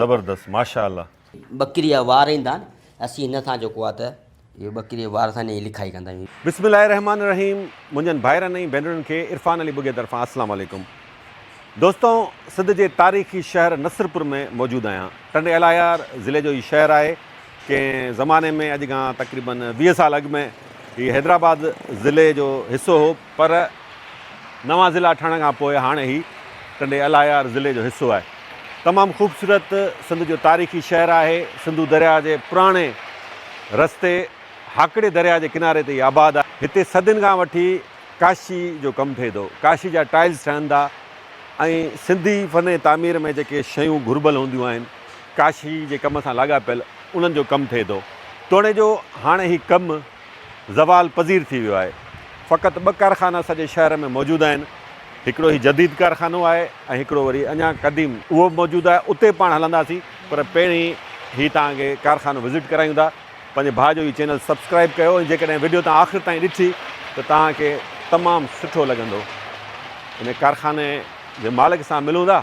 زبردست ماشاءالله. ٻڪري جا وار ايندا آهن اسين هن سان جيڪو آهي ته اهو ٻڪري جي وار سان هن جي لکائي ڪندا آهيون. بسم الله الرحمٰن الرحيم منھنجن ڀائرن ۽ ڀينرن کي عرفان علي ٻگهي طرفان السلام عليڪم دوستو سنڌ جي تاريخي شهر نصرپور ۾ موجود آهيان ٽنڊي الايار ضلعي جو هي شهر آهي ڪنهن زماني ۾ اڄ کان تقريبن ويهه سال اڳ ۾ هي حيدرآباد ضلعي جو حصو هو پر نوان ضلع ٺهڻ کان پوء هاڻ هي ٽنڊي الايار ضلعي جو حصو آهي. تمام خوبصورت سنڌ جو تاريخي شهر آهي. سنڌو درياء جي پراڻي رستي هاڪڙي درياء جي ڪناري تي هي آباد آهي. هتي صدين کان وٺي ڪاشي جو ڪم ٿئي ٿو. ڪاشي جا ٽائلز ٺهن ٿا ۽ سنڌي فن تعمير ۾ جيڪي شيون گهربل هونديون آهن، ڪاشي جي ڪم سان لاڳاپيل انهن جو ڪم ٿئي ٿو. توڻي جو هاڻ هي ڪم زوال پذير ٿي ويو آهي. فقط ٻه ڪارخانا سڄي شهر ۾ موجود آهن. هڪڙو هي جديد ڪارخانو آهي ۽ هڪڙو وري اڃان قديم اهو به موجود آهي. اتي پاڻ هلنداسين پر پهرين هي توهان کي ڪارخانو وزٽ ڪرايون ٿا. پنهنجي ڀاء جو هي چينل سبسڪرائيب ڪيو ۽ جيڪڏهن وڊيو توهان آخر تائين ڏٺي ته توهان کي تمام سٺو لڳندو. هن ڪارخاني جي مالڪ سان ملون ٿا.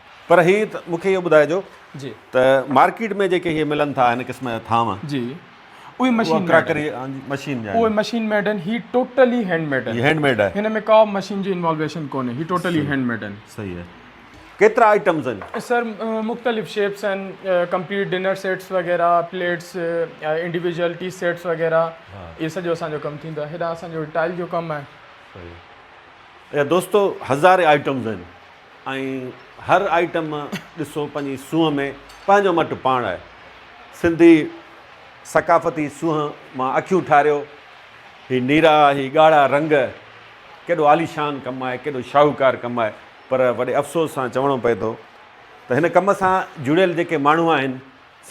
پر هي ته مون کي اهو ٻڌائجو ته مارڪيٽ ۾ جيڪي هي ملن ٿا هن قسم جا ٿانو جي اهي مشين ڪراڪري مشين جا اهي مشين ميڊ آهن هي ٽوٽلي هينڊ ميڊ آهن هينڊ ميڊ آهي هن ۾ ڪا مشين جي انوالويشن ڪونهي هي ٽوٽلي هينڊ ميڊ آهن صحيح آهي ڪيترا آئٽمز آهن سر مختلف شيپس آهن ڪمپليٽ ڊنر سيٽس وغيرها پليٽس انڊيويجل ٽي سيٽس وغيرها اهي سڄو اسانجو ڪم ٿيندو آهي هيڏانهن اسانجو ٽائل جو ڪم آهي دوستو هزارين آئٽمز آهن ۽ هر آئٽم ڏسو پنهنجي سونهن ۾ پنهنجو مٽ پاڻ آهي سنڌي ثقافتي سونهن مان اکيون ٺاريو هي نيرا هي ڳاڙها رنگ ڪيڏو عاليشان ڪم آهي ڪيڏو شاهوڪار ڪم آهي پر وڏي افسوس سان چوڻو پئي ٿو ته هن ڪم سان جڙيل جيڪي ماڻهو آهن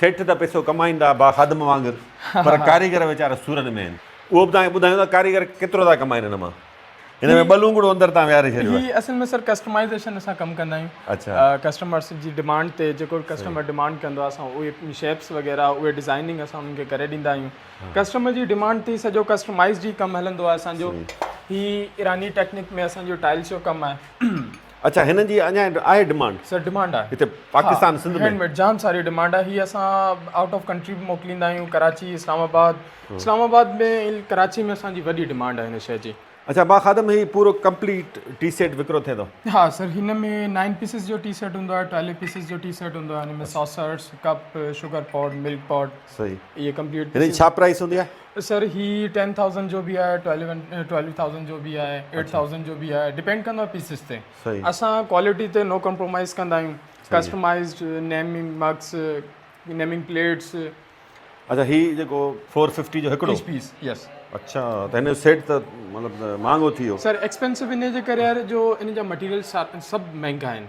سيٺ ته پئسو ڪمائيندا با خادم وانگر پر ڪاريگر ويچارا سورن ۾ آهن اهو به توهان کي ٻڌايون ته ڪاريگر ڪيترو ٿا ڪمائين هن مان هن ۾ ٻه لونگڙو اندر تان ويهاري ڇڏيو آهي. هي اصل ۾ سر ڪسٽمائيزيشن اسان ڪم ڪندا آهيون اڇا. ڪسٽمرس جي ڊمانڊ تي جيڪو به ڪسٽمر ڊمانڊ ڪندو آهي اسان اهي شيپس وغيره اهي ڊزائننگ اسان انهن کي ڪري ڏيندا آهيون ڪسٽمر جي ڊمانڊ تي سڄو ڪسٽمائيز جي ڪم هلندو آهي اسان جو هي ايراني ٽيڪنڪ ۾ اسان جو ٽائلس جو ڪم آهي اچھا هنن جي اڃا آهي ڊمانڊ سر ڊمانڊ آهي هتي پاڪستان سنڌ ۾ هينڊميڊ جام ساري ڊمانڊ آهي هي اسان آئوٽ آف ڪنٽري به موڪليندا آهيون ڪراچي اسلام آباد اسلام آباد ۾ ڪراچي ۾ اسان جي وڏي ڊمانڊ آهي هن شي جي اچھا با خادم هي پورو ڪمپليٽ ٽي سيٽ وڪرو ٿئي ٿو ها سر هن ۾ نائن پيسز جو ٽي سيٽ هوندو آهي ٽويلو پيسز جو ٽي سيٽ هوندو آهي هن ۾ ساسرس ڪپ شوگر پاٽ ملڪ پاٽ صحيح هي ڪمپليٽ هن جي ڇا پرائس هوندي آهي سر هي 10000 جو به آهي 12000 جو به آهي 8000 جو به آهي ڊيپينڊ ڪندو آهي پيسز تي اسان ڪوالٽي تي نو ڪمپرومائز ڪندا آهيون customized naming mugs naming plates اچھا هي جيڪو 450 جو هڪڙو پيس يس اچھا ته هن جو سيٽ ته مطلب مهانگو ٿي ويو سر ايڪسپينسو ان جي ڪري جو ان جا مٽيريل سڀ مهانگا آهن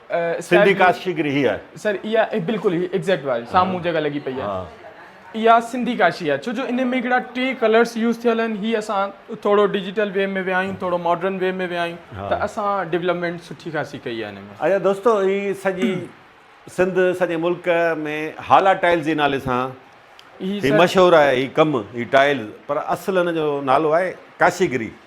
سنڌي ڪاشيگري هي آهي. سر اها بلڪل هي ايگزيڪٽ واري سامهون جيڪا لڳي پئي آهي اها سنڌي ڪاشي آهي ڇو جو ان ۾ هڪڙا ٽي ڪلرس يوز ٿيل آهن هي اسان ٿورو ڊجيٽل وي ۾ ويا آهيون ٿورو ماڊرن وي ۾ ويا آهيون ته اسان ڊولپمينٽ سٺي خاصي ڪئي آهي اچا دوستو هي سڄي سنڌ سڄي ملڪ ۾ هالا ٽائلز جي نالي سان هي مشهور آهي هي ڪم هي ٽائلز پر اصل هن جو نالو آهي ڪاشيگري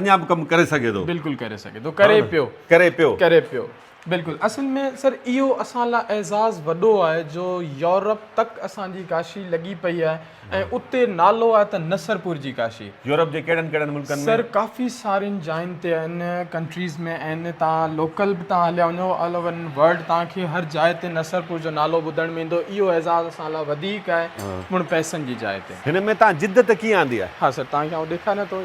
اڃا به ڪم ڪري سگهي ٿو بلڪل ڪري سگهي ٿو ڪري پيو ڪري پيو ڪري پيو بلڪل اصل ۾ سر اهو اسان لاء اعزاز وڏو آهي جو يورپ تڪ اسان جي ڪاشي لڳي پئي آهي ۽ اتي نالو آهي ته نصرپور جي ڪاشي يورپ جي ڪهڙن ڪهڙن ملڪن ۾ سر ڪافي سارين جاين تي ان ڪنٽريز ۾ ان تان لوڪل به تان هليا وڃو آل اوور ان ورلڊ تان کي هر جاء تي نصرپور جو نالو ٻڌڻ ۾ ايندو اهو اعزاز اسان لاء وڌيڪ آهي مڙ پئسن جي جاء تي هن ۾ تان جدت ڪيئن آندي آهي ها سر تان کي آئون ڏيکاريان ٿو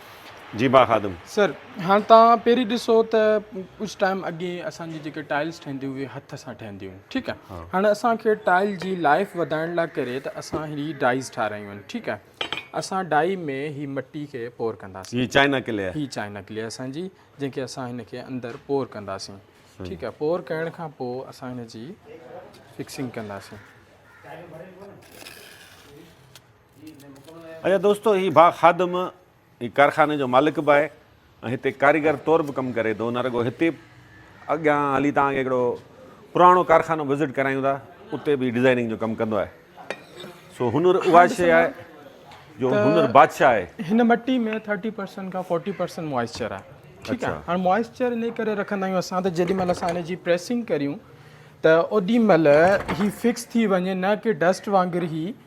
جي ڀا خادم. سر هاڻ توهان پهرين ڏسو ته ڪجهه ٽائيم اڳي اسان جي جيڪي ٽائلس ٺهندي هئي هٿ سان ٺهندي هئي ٺيڪ آهي هاڻ اسان کي ٽائل جي لائف وڌائڻ لاء ڪري ته اسان هي ڊائيز ٺارايون آهن ٺيڪ آهي اسان ڊائي ۾ هي مٽي کي پور ڪنداسين هي چائنا ڪلي هي چائنا ڪلي اسان جي جنهن کي اسان هن کي اندر پور ڪنداسين ٺيڪ آهي پور ڪرڻ کان پوء اسان هن جي فڪسنگ ڪنداسين اچا دوستو هي ڀا خادم هي ڪارخاني جو مالڪ به آهي ۽ هتي ڪاريگر طور به ڪم ڪري ٿو نه رڳو هتي اڳيان هلي تان کي هڪڙو پراڻو ڪارخانو وزٽ ڪرايون ٿا اتي به ڊيزائننگ جو ڪم ڪندو آهي سو هنر اها شي آهي جو هنر بادشاهه آهي هن مٽي ۾ 30% کان 40% موئسچر آهي ٺيڪ آهي هاڻ موئسچر انهي ڪري رکندا آهيون اسان ته جيڏي مهل اسان ان جي پريسنگ ڪريون ته اوڏي مهل هي فڪس ٿي وڃي نه ڪي ڊسٽ وانگر هي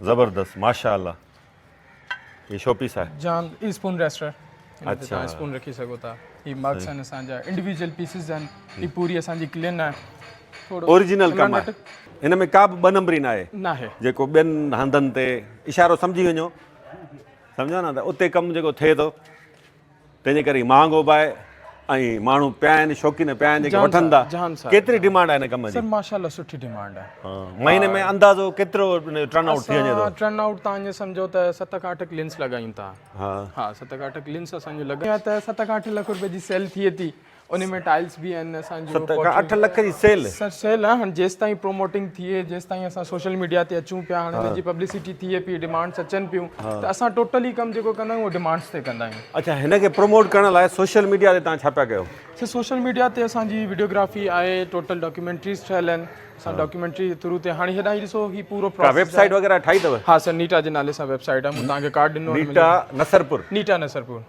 زبردست ماشاء الله هي شو پيس آهي. جان هي اسپون ريسٽر هن تي تهان اسپون رکي سگهو ٿا هي مگس آهن اسان جا انڊيويجل پيسز آهن هي پوري اسان جي ڪلين آهي اوريجنل ڪم آهي هن ۾ ڪا به ٻه نمبري ناهي ناهي جيڪو ٻين هنڌن تي اشارو سمجهي وڃو سمجهيو نه ته اتي ڪم جيڪو ٿئي ٿو تنهنجي ڪري مهانگ هوبا آهي ۽ ماڻهو پيا آهن شوقين پيا آهن جيڪي وٺن ٿا ڪيتري ڊيمانڊ آهي هن ڪم جي سر ماشاءالله سٺي ڊيمانڊ آهي مهيني ۾ اندازو ڪيترو ٽرن آئوٽ ٿي وڃي ٿو ٽرن آئوٽ تان جي سمجهو ته 7 کان 8 لينس لڳايون ٿا ها ها 7 کان 8 لينس اسان جو لڳايون ته 7 کان 8 لک روپيه جي سيل ٿئي ٿي ان ۾ ٽائلس به آهن اسان جو ست کان اٺ لک جي سيل سر سيل آ هن جيس تائين پروموٽنگ ٿئي جيس تائين اسان سوشل ميڊيا تي اچون پيا هن جي پبلسٽي ٿئي پي ڊيمانڊز اچن پيون ته اسان ٽوٽلي ڪم جيڪو ڪندا آهيون ڊيمانڊز تي ڪندا آهيون اچھا هن کي پروموٽ ڪرڻ لاء سوشل ميڊيا تي تان ڇا پيا ڪيو سر سوشل ميڊيا تي اسان جي ويڊيوگرافي آهي ٽوٽل ڊاڪيومينٽريز ٺهيل آهن اسان ڊاڪيومينٽري جي ٿرو تي هاڻي هيڏانهن ڏسو هي پورو پروسيس ويب سائيٽ وغيرها ٺاهي اٿو ها سر نيٽا جي نالي سان ويب سائيٽ آ مون تان کي ڪارڊ ڏنو نيٽا نصرپور نيٽا نصرپور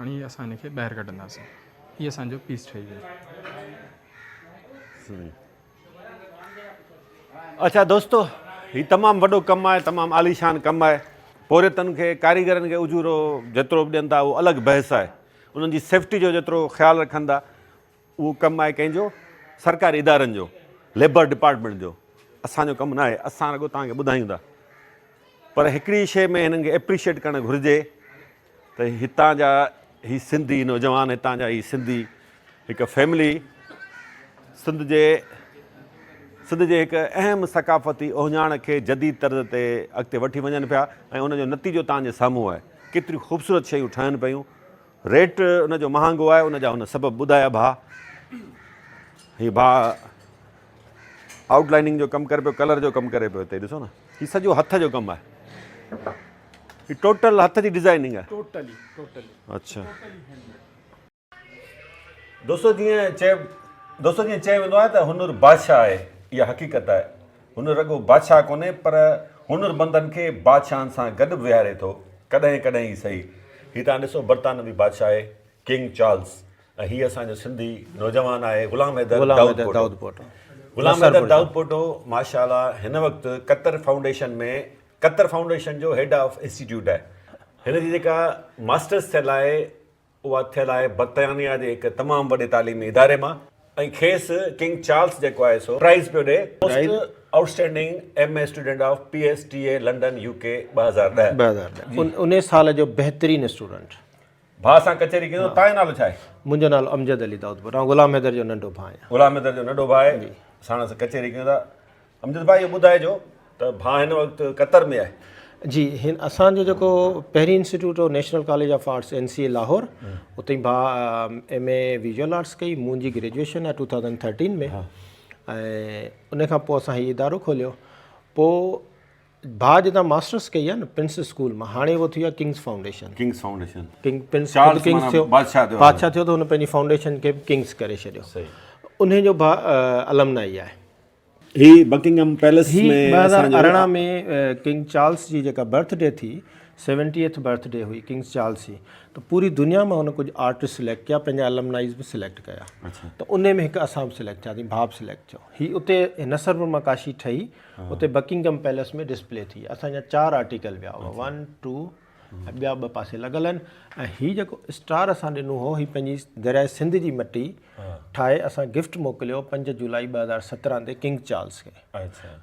هاڻي اسان هن کي ٻاهر ڪڍنداسين هي اسان جو پيس ٺهي ويو. اڇا دوستو هي تمام وڏو ڪم آهي تمام عاليشان ڪم آهي پورهيتن کي ڪاريگرن کي اجورو جيترو به ڏين ٿا اهو الڳ بحث آهي انهن جي سيفٽي جو جيترو خيال رکندا اهو ڪم آهي ڪنهن جو؟ سرڪاري ادارن جو، ليبر ڊپارٽمينٽ جو. اسان جو ڪم ناهي، اسان رڳو توهان کي ٻڌايون ٿا. پر هڪڙي شيء ۾ هنن کي اپريشيئيٽ ڪرڻ گهرجي ته هتان جا هي سنڌي نوجوان، هتان جا هي سنڌي هڪ فيملي سنڌ جي سنڌ جي هڪ اهم ثقافتي اوهڃاڻ کي جديد طرز تي اڳتي وٺي وڃن پيا ۽ ان جو نتيجو توهان جي سامهون آهي. ڪيتريون خوبصورت شيون ٺهن پيون، ريٽ ان جو مهانگو آهي ان جا هن سبب ٻڌايا ڀاء هي ڀاء آئوٽ لائننگ جو ڪم ڪري پيو ڪلر جو ڪم ڪري پيو هتي ڏسو نه هي سڄو هٿ جو ڪم آهي هي ٽوٽل هٿ جي ڊيزائننگ آهي ٽوٽلي ٽوٽلي اچھا دوستو جيئن چئي دوستو جيئن چئي ويندو آهي ته هنر بادشاهه آهي اها حقيقت آهي هن رڳو بادشاهه ڪونهي پر هنرمندن کي بادشاهن سان گڏ به ويهاري ٿو ڪڏهن ڪڏهن ئي سهي. هي تهان ڏسو برطانوي بادشاهه آهي ڪنگ چارلس ۽ هي اسان جو سنڌي نوجوان آهي غلام حيدر دائود پوٽو. غلام حيدر دائود پوٽو ماشاء الله هن وقت قطر فائونڊيشن ۾ قطر فائونڊيشن جو هيڊ آف انسٽيٽيوٽ آهي. هن جي جيڪا ماسٽرس ٿيل آهي اها ٿيل آهي برطانيا جي هڪ تمام وڏي تعليمي اداري مان ۽ کيس ڪنگ چارلس جيڪو آهي سو پرائز پيو ڏئي most outstanding M A student of P S T A London U K ٻه هزار ڏهه ٻه هزار ڏهه ان ان سال جو بهترين اسٽوڊنٽ. ڀاء سان ڪچهري ڪيو تنهنجو نالو ڇا آهي؟ منهنجو نالو امجد علي دائودپور آء غلام حيدر جو ننڍو ڀاء آهيان. غلام حيدر جو ننڍو ڀاء آهي ساڻس ڪچهري ڪيون ٿا. امجد ڀاء اهو ٻڌائجو ته ڀاء هن وقت قطر ۾ آهي. جي هن اسان جو جيڪو پهرين انسٽيٽيوٽ هو National College of Arts N C A Lahore اتي ڀاء ايم اي ويزوئل آرٽس ڪئي منهنجي گريجوئيشن آهي ٽو ٿائوزنڊ ٿرٽين ۾ ۽ ان کان پوء اسان هي ادارو کوليو پوء ڀاء جتان ماسٽرس ڪئي آهي نه پرنس اسڪول مان هاڻي اهو ٿيو آهي King's Foundation King's Foundation King Prince King's ٿيو بادشاهه ٿيو بادشاهه ٿيو ته هن پنهنجي فائونڊيشن کي ڪنگس ڪري ڇڏيو انهي جو ڀاء المنائي آهي هي بڪنگهم پيلس هي ۾ ٻه اسان هزار جو ارڙهن ۾ ڪنگ چارلس جي جيڪا برٿ ڊي ٿي سيونٽيهٿ برٿ ڊي هئي ڪنگس چارلس جي ته پوري دنيا مان هن ڪجهه آرٽسٽ سليڪٽ ڪيا پنهنجا المنائيز به سليڪٽ ڪيا ته ان ۾ هڪ اسان به سليڪٽ ٿيا ٿي ڀاء به سليڪٽ ٿيو هي اتي نصر برما ڪاشي ٺهي اتي بڪنگهم پيلس ۾ ڊسپلي ٿي اسان جا چار آرٽيڪل ويا هئا ون ٽو ۽ ٻيا ٻه پاسي لڳل آهن ۽ هي جيڪو اسٽار اسان ڏنو هو هي پنهنجي درياء سنڌ جي مٽي ٺاهي اسان گفٽ موڪليو پنج جولائي ٻه هزار سترهن تي ڪنگ چارلس کي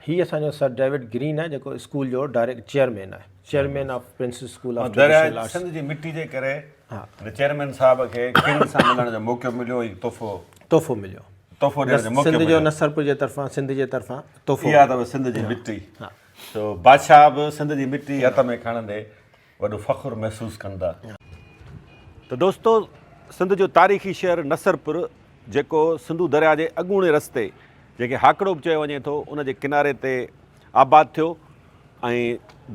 هي اسان جو سر ڊيوڊ گرين آهي جيڪو اسڪول جو ڊائريڪٽ چيئرمين آهي chairman of Prince's School of درياء سنڌ جي مٽي جي ڪري چيئرمين صاحب کي ڪنگ سان ملڻ جو موقعو مليو ۽ تحفو تحفو مليو تحفو ڏيڻ جو موقعو مليو سنڌ جو نصرپور جي طرفان سنڌ جي طرفان تحفو اها اٿم سنڌ جي مٽي سو بادشاهه به سنڌ جي مٽي هٿ ۾ کڻندي وڏو فخر محسوس ڪندا. ته دوستو سنڌ جو تاريخي شهر نصرپور جيڪو سنڌو درياء جي اڳوڻي رستي جنهن کي هاڪڙو به چيو وڃي ٿو ان جي ڪناري تي آباد ٿيو ۽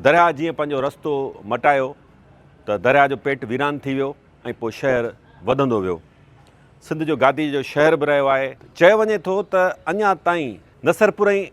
درياء جيئن پنهنجو رستو مٽايو ته درياء جو پيٽ ويران ٿي ويو ۽ پوء شهر وڌندو ويو سنڌ جو گادي جو شهر به رهيو آهي چيو وڃي ٿو ته اڃا تائين نصرپور ۽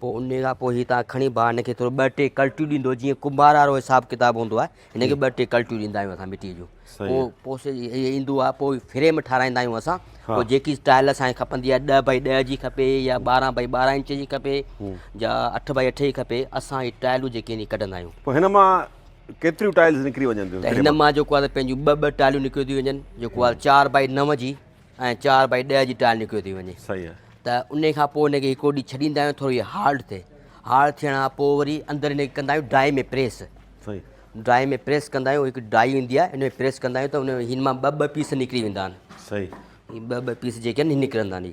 پوء ان کان پوء هي تان کڻي ڀاء هن کي ٿورو ٻه ٽي ڪلٽيون ڏيندو جيئن ڪنڀار وارو حساب ڪتاب هوندو آهي هن کي ٻه ٽي ڪلٽيون ڏيندا آهيون اسان مٽيء جون پوء پوء ايندو آهي پوء فريم ٺاراهيندا آهيون اسان پوء جيڪي اسٽائل اسانکي کپندي آهي ڏهه بائي ڏهه جي کپي يا ٻارهن بائي ٻارهن انچ جي کپي يا اٺ بائي اٺ جي کپي اسان هي ٽائلون جيڪي ائني ڪڍندا آهيون پوء هن مان ڪيتريون ٽائلز نڪري وڃن ٿيون ته هن مان جيڪو آهي پنهنجيون ٻه ٻه ٽائلون نڪريون ٿي وڃن جيڪو آهي چار بائي نو جي ۽ چار بائي ڏهه جي ٽائل نڪريو ٿي وڃي صحيح آهي ته ان کان پوء ان کي هڪڙو ڏينهن ڇڏيندا آهيون ٿوري هارڊ ٿئي هارڊ ٿيڻ کان پوء وري اندر ان کي ڪندا آهيون ڊرائي ۾ پريس صحيح ڊرائي ۾ پريس ڪندا آهيون هڪ ڊائي ايندي آهي ان ۾ پريس ڪندا آهيون ته ان هن مان ٻه ٻه پيس نڪري ويندا آهن صحيح ٻه ٻه پيس جيڪي آهن نڪرندا آهن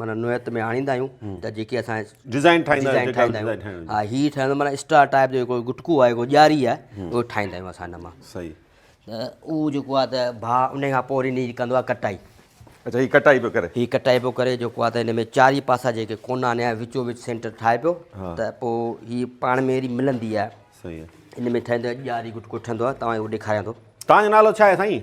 معنيٰ نوعيت ۾ آڻيندا آهيون ته جيڪي اسان ڊيزائن ٺاهيندا آهيون ها هي ٺهندو معنيٰ اسٽار ٽائپ جو هڪڙو گٽڪو آهي هڪڙو ڄاري آهي اهو ٺاهيندا آهيون اسان هن مان صحيح ته اهو جيڪو آهي ته ڀاء ان کان پوء وري هن ڪندو آهي ڪٽائي اچا هي ڪٽائي پيو ڪري هي ڪٽائي پيو ڪري جيڪو آهي ته هن ۾ چارئي پاسا جيڪي ڪونا آنيا آهي وچو وچ سينٽر ٺاهي پيو ته پوء هي پاڻ ۾ اهڙي ملندي آهي صحيح هن ۾ ٺهندو آهي ڄاري گٽڪو ٺهندو آهي تمام اهو ڏيکاريان ٿو تان جو نالو ڇا آهي سائين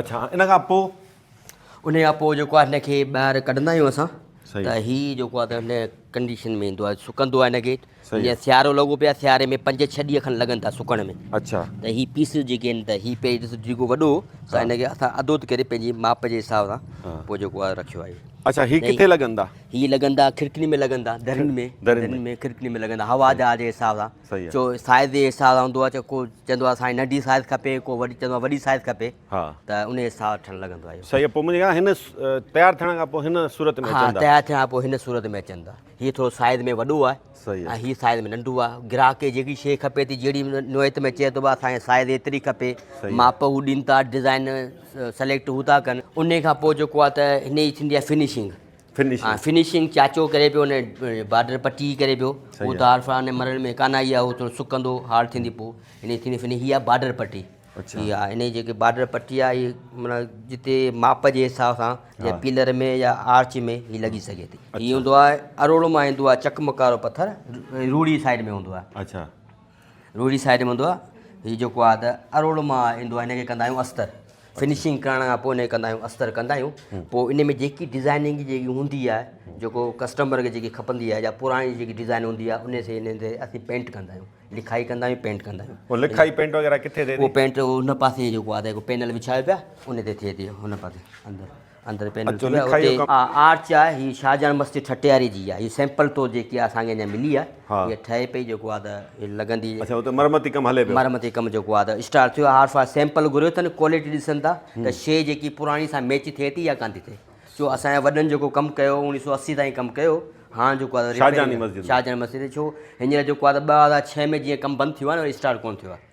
اڇا ان کان پوء ان کان پوء جيڪو آهي هن کي ٻاهر ڪڍندا آهيون اسان ته هي جيڪو آهي ته هن ڪنڊيشن ۾ ايندو آهي سڪندو آهي هن کي جيئن سيارو لڳو پيو آهي سياري ۾ پنج ڇهه ڏينهن کن لڳن ٿا سڪڻ ۾ اڇا ته هي پيس جيڪي آهن ته هي پيس ڏس جيڪو وڏو سو هن کي اسان اڌو ٿي ڪري پنهنجي ماپ جي حساب سان پوء جيڪو آهي رکيو آهي اڇا هي ڪٿي لڳندا هي لڳندا کڙڪين ۾ لڳندا درين ۾ درين ۾ کڙڪين ۾ لڳندا هوا جا جي حساب سان جو سائيز جي حساب سان هوندو آهي ڪو چوندو آهي سائين ننڍي سائيز کپي ڪو وڏي چوندو آهي وڏي سائيز کپي ته ان جي حساب سان ٺهڻ لڳندو آهي صحيح پوء منهنجي خيال هن تيار ٿيڻ کان پوء هن صورت ۾ اچن ٿا تيار ٿيڻ کان پوء هن صورت ۾ اچن ٿا هي ٿورو سائيز ۾ وڏو آهي صحيح ۽ هي سائيز ۾ ننڍو آهي گراهڪ کي جيڪي شيء کپي ٿي جهڙي نوعيت ۾ چئي ٿو اسان کي سائيز ايتري کپي ماپ هو ڏين ٿا ڊزائن سليڪٽ هو ٿا ڪن ان کان پوء جيڪو آهي ته هن جي ٿيندي آهي فنشنگ فنشنگ فنشنگ چاچو ڪري پيو ان بارڊر پٽي ڪري پيو هو ته عارفان مرڻ ۾ ڪانه آئي آهي هو ٿورو سڪندو هارڊ ٿيندي پوء ان ٿيندي فني هي آهي بارڊر پٽي اچھا ها ان جيڪي بارڊر پٽي آ هي معنيٰ جتي ماپ جي حساب سان جي پيلر ۾ يا آرچ ۾ هي لڳي سگهي ٿي هي هوندو آهي اروڙ مان ايندو آهي چڪمڪارو پٿر روڙي سائيڊ ۾ هوندو آهي اچھا روهڙي سائيڊ ۾ هوندو آهي هي جيڪو آهي ته اروڙ مان ايندو آهي هن کي ڪندا آهيون استر فنشنگ ڪرڻ کان پوء هن ڪندا آهيون استر ڪندا آهيون پوء ان ۾ جيڪي ڊيزائننگ جيڪي هوندي آهي جيڪو ڪسٽمر کي جيڪي کپندي آهي يا پراڻي جيڪي ڊيزائن هوندي آهي ان سي ان تي اسين پينٽ ڪندا آهيون لکائي ڪندا آهيون پينٽ ڪندا آهيون پوء لکائي پينٽ وغيره ڪٿي ٿئي ٿي پينٽ هن پاسي جيڪو آهي ته هڪ پينل وڇايو پيا ان تي ٿئي ٿي هن پاسي اندر اچو لکايو ڪم. آرچ آهي هي شاهجهان مسجد ٺٽياري جي آهي هي سيمپل طور جيڪي آهي اسان کي اڃا ملي آهي هي ٺهي پئي جيڪو آهي ته هي لڳندي اچا اتي مرمتي ڪم هلي پيو مرمتي ڪم جيڪو آهي ته اسٽارٽ ٿيو آهي عارف آهي سيمپل گهريو اٿن ڪوالٽي ڏسن ٿا ته شيء جيڪي پراڻي سان ميچ ٿئي ٿي يا ڪانه ٿي ٿئي ڇو اسان جي وڏن جيڪو ڪم ڪيو اوڻيهه سو اسي تائين ڪم ڪيو هاڻ جيڪو آهي شاهجهان مسجد شاهجهان مسجد ڇو هينئر جيڪو آهي ته ٻه هزار ڇهه ۾ جيئن ڪم بند ٿيو آهي نه اسٽارٽ ڪونه ٿيو آهي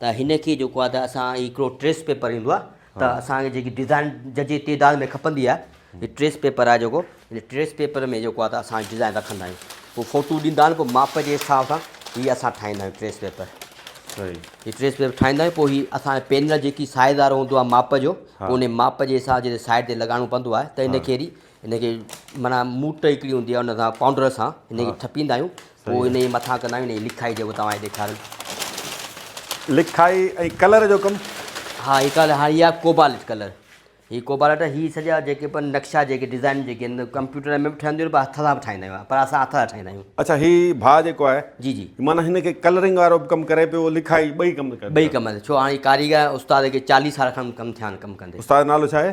ته هن کي جيڪو آهي ته اسان هڪڙو ٽريس پيپر ايندو آهي ته اسان کي جيڪي ڊزائن ججي تعداد ۾ کپندي آهي هي ٽريس پيپر آهي جيڪو هن ٽريس پيپر ۾ جيڪو آهي ته اسان ڊزائن رکندا آهيون پوء فوٽو ڏيندا آهن پوء ماپ جي حساب سان هي اسان ٺاهيندا آهيون ٽريس پيپر صحيح هي ٽريس پيپر ٺاهيندا آهيون پوء هي اسان پينل جيڪي سائز وارو هوندو آهي ماپ جو ان ماپ جي حساب جي سائيڊ تي لڳائڻو پوندو آهي ته هن کي ان کي معنيٰ موٽ هڪڙي هوندي آهي ان سان پائونڊر سان ان کي ٺپيندا آهيون پوء ان جي مٿان ڪندا آهيون ان جي لکائي جيڪو توهان کي ڏيکاريم. لکائي ۽ ڪلر جو ڪم؟ ها هي ڪلر هاڻي اها ڪوبالٽ ڪلر هي ڪوبالٽ هي سڄا جيڪي به نقشا جيڪي ڊزائنون جيڪي آهن ڪمپيوٽر ۾ به ٺهنديون آهن هٿ سان به ٺاهيندا آهيون پر اسان هٿ سان ٺاهيندا آهيون. اڇا هي ڀاء جيڪو آهي جي جي معنيٰ هن کي ڪلرنگ وارو به ڪم ڪري پيو لکائي ٻئي ڪم ڪري پيو. ٻئي ڪم ڇو هاڻي ڪاريگر استاد کي چاليهه سال کن ڪم ٿيا آهن ڪم ڪندي. استاد جو نالو ڇا آهي؟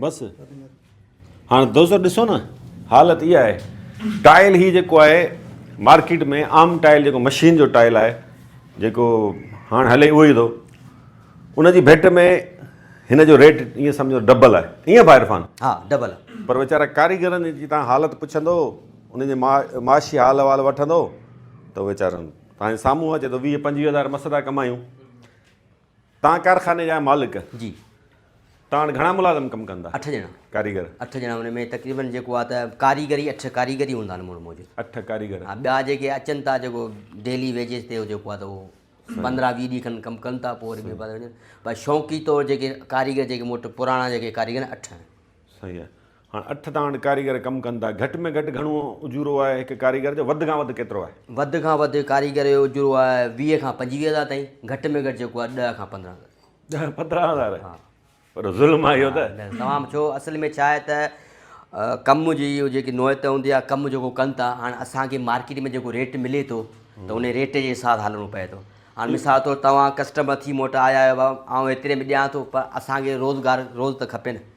بس هاڻ دوستو ڏسو نه حالت اها آهي ٽائل هي جيڪو آهي مارڪيٽ ۾ عام ٽائل جيڪو مشين جو ٽائل آهي جيڪو هاڻ هلي اهو ئي ٿو ان جي ڀيٽ ۾ هن جو ريٽ ائين سمجهو ڊبل آهي ائين ڀاء عرفان ها ڊبل آهي پر ويچارا ڪاريگرن جي تان حالت پڇندو ان جي معاشي حال احوال وٺندو ته ويچارن تان سامهون اچي ٿو ويهه پنجويهه هزار مس ٿا ڪمايون تان ڪارخاني جا مالڪ جي تان وٽ گهڻا ملازم ڪم ڪندا اٺ ڄڻا ڪاريگر اٺ ڄڻا ان ۾ تقريبن جيڪو آ ته ڪاريگر ئي اٺ ڪاريگر ئي هوندا آهن مڙ موجب اٺ ڪاريگر ها ٻيا جيڪي اچن ٿا جيڪو ڊيلي ويجز تي جيڪو آ ته هو پندرهن ويهه ڏينهن کن ڪم ڪن ٿا پوء وري ٻئي پاسي وڃن پر شوقي طور جيڪي ڪاريگر جيڪي مون وٽ پراڻا جيڪي ڪاريگر اٺ آهن صحيح آ هاڻ اٺ تان هاڻ ڪاريگر ڪم ڪن ٿا. گهٽ ۾ گهٽ گهڻو اجورو آهي هڪ ڪاريگر جو وڌ کان وڌ ڪيترو آهي؟ وڌ کان وڌ ڪاريگر جو اجورو آهي ويهه کان پنجويهه هزار تائين گهٽ ۾ گهٽ جيڪو آهي ڏهه کان پندرهن هزار. ڏهه پندرهن هزار؟ ها. وڏو ظلم آهي اهو ته. نه تمام ڇو اصل ۾ ڇا آهي ته ڪم جي اهو جيڪي نوعيت هوندي آهي ڪم جيڪو ڪن ٿا هاڻ اسان کي مارڪيٽ ۾ جيڪو ريٽ ملي ٿو ته ان ريٽ جي حساب هلڻو پئي ٿو هاڻ مثال طور تون ڪسٽمر ٿي مون وٽ آيا آهيو آئون ايتري ۾ ڏيان ٿو پر اسان کي روزگار روز ته کپي نه.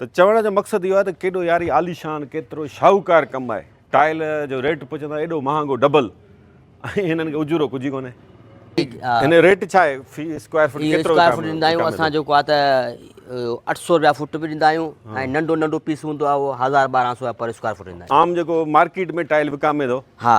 ته چوڻ جو مقصد اهو آهي ته ڪيڏو ياري عاليشان ڪيترو شاهوڪار ڪم آهي ٽائل جو ريٽ پڇندا ايڏو مهانگو ڊبل ۽ هنن کي اجورو ڪجهه ئي ڪونهي هن ريٽ ڇا آهي في اسڪوائر فٽ ڪيترو اسڪوائر فٽ ڏيندا آهيون اسان جيڪو آهي ته اٺ سو روپيا فٽ به ڏيندا آهيون ۽ ننڍو ننڍو پيس هوندو آهي اهو هزار ٻارهن سو پر اسڪوائر فٽ ڏيندا آهيون عام جيڪو مارڪيٽ ۾ ٽائل وڪامي ٿو ها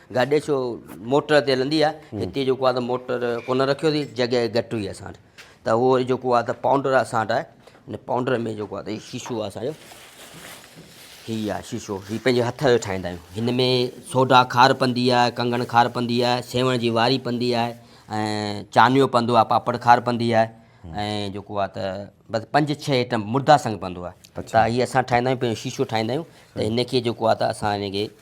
گاڏي ڇو موٽر تي هلندي آهي هتي جيڪو آهي ته موٽر ڪونه رکيو اٿي جڳهه گهٽ هئي اسان وٽ ته اهو وري جيڪو آهي ته پائونڊر اسان وٽ آهي ان پائونڊر ۾ جيڪو آهي ته هي شيشو آهي اسانجو هي آهي شيشو هي پنهنجي هٿ جو ٺاهيندا آهيون هن ۾ سوڍا کار پندي آهي ڪنگڻ کار پندي آهي سيوڻ جي واري پندي آهي ۽ چانيو پندو آهي پاپڙ کار پندي آهي ۽ جيڪو آهي ته بس پنج ڇهه آئٽم مردا سنگ پندو آهي ته هي اسان ٺاهيندا آهيون پنهنجو شيشو ٺاهيندا آهيون ته هن کي جيڪو آهي ته اسان هن کي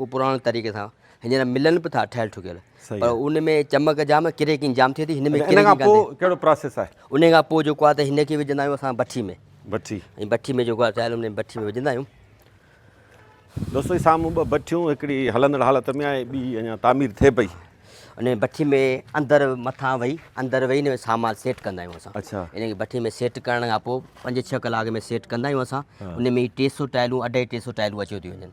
هو پراڻي طريقي سان هينئر ملن به ٿا ٺهيل ٺڪيل پر ان ۾ چمڪ جام ڪريڪنگ جام ٿئي ٿي هن ۾ ان کان پوء ڪهڙو پراسيس آهي ان کان پوء جيڪو آهي ته هن کي وجهندا آهيون اسان بٺي ۾ بٺي ۽ بٺي ۾ جيڪو آهي ٺهيل ان بٺي ۾ وجهندا آهيون دوستو هي سامهون ٻه بٺيون هڪڙي هلندڙ حالت ۾ آهي ٻي اڃا تعمير ٿئي پئي ان بٺي ۾ اندر مٿان وئي اندر وئي ان سامان سيٽ ڪندا آهيون اسان اچھا ان کي بٺي ۾ سيٽ ڪرڻ کان پوء پنج ڇهه ڪلاڪ ۾ سيٽ ڪندا آهيون اسان ان ۾ ٽي سو ٽائلون اڍائي ٽي سو ٽائلون اچيو ٿي وڃن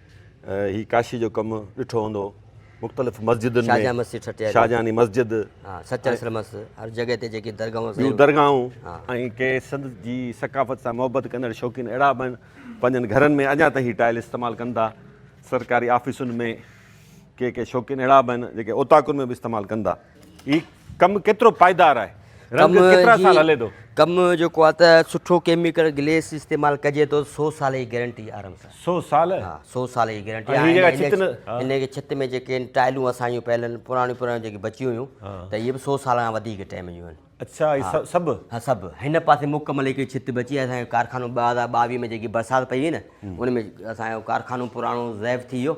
هي ڪاشي جو ڪم ڏٺو هوندو مختلف مسجدن ۾ شاهجهان مسجد ٺٽي شاهجهاني مسجد ها سچل سرمس هر جڳهه تي جيڪي درگاهون سيون درگاهون ۽ ڪي سنڌ جي ثقافت سان محبت ڪندڙ شوقين اهڙا به پنهنجن گهرن ۾ اڃا تائين هي ٽائل استعمال ڪن ٿا سرڪاري آفيسن ۾ ڪي ڪي شوقين اهڙا به آهن جيڪي اوطاقن ۾ به استعمال ڪن ٿا هي ڪم ڪيترو پائيدار آهي رنگ ڪيترا سال هلي ٿو ڪم جيڪو آهي ته سٺو ڪيميڪل گليس استعمال ڪجي ٿو سو سال جي گيرنٽي آرام سان سو سال ها سو سال جي گيرنٽي هن کي ڇت ۾ جيڪي آهن ٽائلون اسان جون پيل آهن پراڻيون پراڻيون جيڪي بچيون هيون ته اهي به سو سال کان وڌيڪ ٽائم جون آهن اچھا هي سڀ ها سڀ هن پاسي مڪمل هڪ ڇت بچي اسان جو ڪارخانو ٻه هزار ٻاويهه ۾ جيڪي برسات پئي هئي نه ان ۾ اسان جو ڪارخانو پراڻو ضعيف ٿي ويو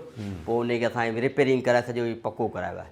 پوء ان کي اسان ريپيرنگ ڪرائي سڄو پڪو ڪرايو آهي